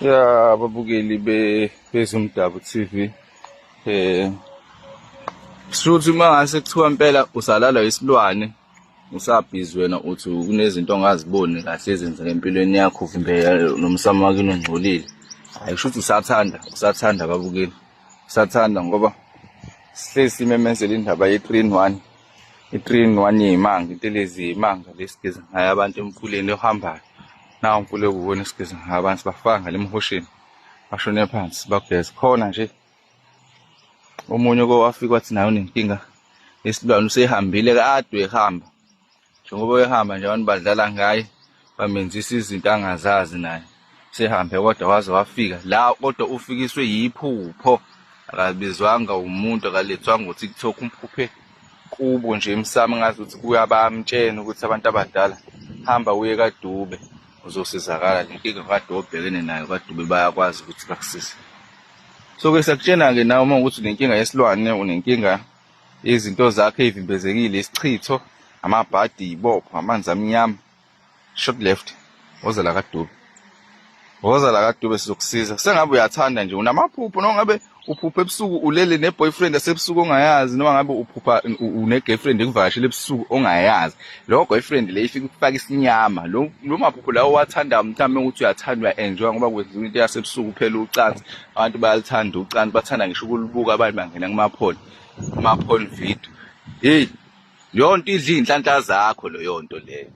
ya babukeli bezumdabu TV eh shuthi mangase kuthiwa impela usalalwa isilwane usabhizi wena uthi kunezinto ongaziboni kahle ezenzeka empilweni yakho kumbe nomsamo wakini ongcolile hayi kusho ukuthi usathanda usathanda babukeli usathanda ngoba sihlezi simemezela indaba ye-three in one I-train one yimanga intelezi yimanga lesigeza ngayo abantu emfuleni ohambayo nawo umfula ekuwona esigeza ngayo abantu bafaka ngale emhosheni bashone phansi bageze khona nje omunye kowafika wathi nayo unenkinga yesilwane usehambile kade ehamba njengoba ehamba nje abantu badlala ngaye bamenzisa izinto angazazi naye sehambe kodwa waze wafika la kodwa ufikiswe yiphupho akabizwanga umuntu akalethwanga ukuthi kuthoka umphuphe kubo nje emsamo ngazi ukuthi kuyabamtshena ukuthi abantu abadala hamba uye kadube uzosizakala le nkinga kade obhekene nayo kadube bayakwazi ukuthi bakusize so ke sakutshena-ke nawe uma ukuthi unenkinga yesilwane unenkinga izinto zakhe ivimbezekile isichitho amabhadi ibopho amanzi amnyama short left woza la kadube woza la kadube sizokusiza sengabe uyathanda nje unamaphupho noma ngabe uphupha ebusuku ulele ne-boyfriend asebusuku ongayazi noma ngabe uphupha une-girlfriend ekuvakashela ebusuku ongayazi lowo boyfriend le ifike ukufaka isinyama lo maphupho lawo owathandayo mhlawumbe ukuthi uyathandwa uya-enjoya ngoba kwenziwa into yasebusuku kuphela ucansi abantu bayaluthanda ucansi bathanda ngisho ukulubuka abantu bangena kumaphone kumaphone video hey yonto idla iy'nhlanhla zakho leyo nto leyo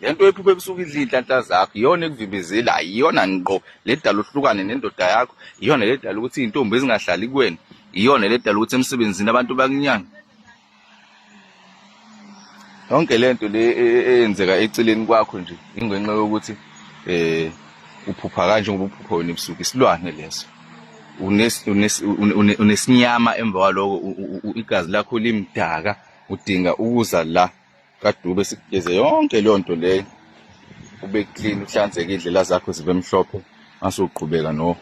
le nto ephupha ebusuku idla iy'nhlanhla zakho iyona ekuvimbezela iyona ngqo le dala uhlukane nendoda yakho iyona le dala ukuthi iy'ntombi ezingahlali kuwena iyona le dala ukuthi emsebenzini abantu bakunyanga yonke le nto le e, e, eyenzeka eceleni kwakho nje ingenxa yokuthi eh uphupha kanje ngoba uphupha wena ebusuku isilwane leso unesinyama emva kwaloko igazi lakho limdaka udinga ukuza la kaDube sikugeze yonke leyo nto leyo ube clean uhlanzeke indlela zakho zibe mhlophe ngase uqhubeka no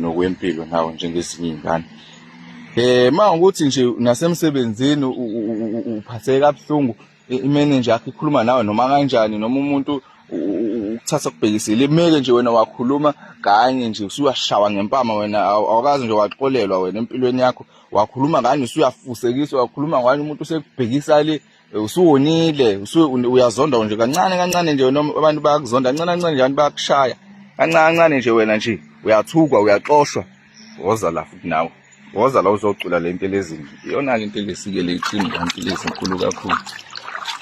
nokwempilo nawe njengezinye iy'ngane eh ma ukuthi nje nasemsebenzini uphatheke kabuhlungu imenenja yakho ikhuluma nawe noma kanjani noma umuntu ukuthatha kubhekisile imeke nje wena wakhuluma kanye nje usuyashawa ngempama wena awukazi nje waxolelwa wena empilweni yakho wakhuluma ngani usuyafusekiswa wakhuluma ngani umuntu usekubhekisa le usuwonile uyazonda nje kancane kancane nje noma abantu bayakuzonda kancane kancane nje abantu bayakushaya kancane kancane nje wena nje uyathukwa uyaxoshwa woza la futhi nawe woza la uzocula le nto elezini iyona-ke into elesike le iqini kanti lezinkulu kakhulu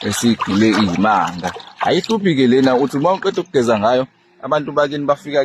esigile iyimanga ayihluphi-ke lena uthi uma uqeda ukugeza ngayo abantu bakini bafika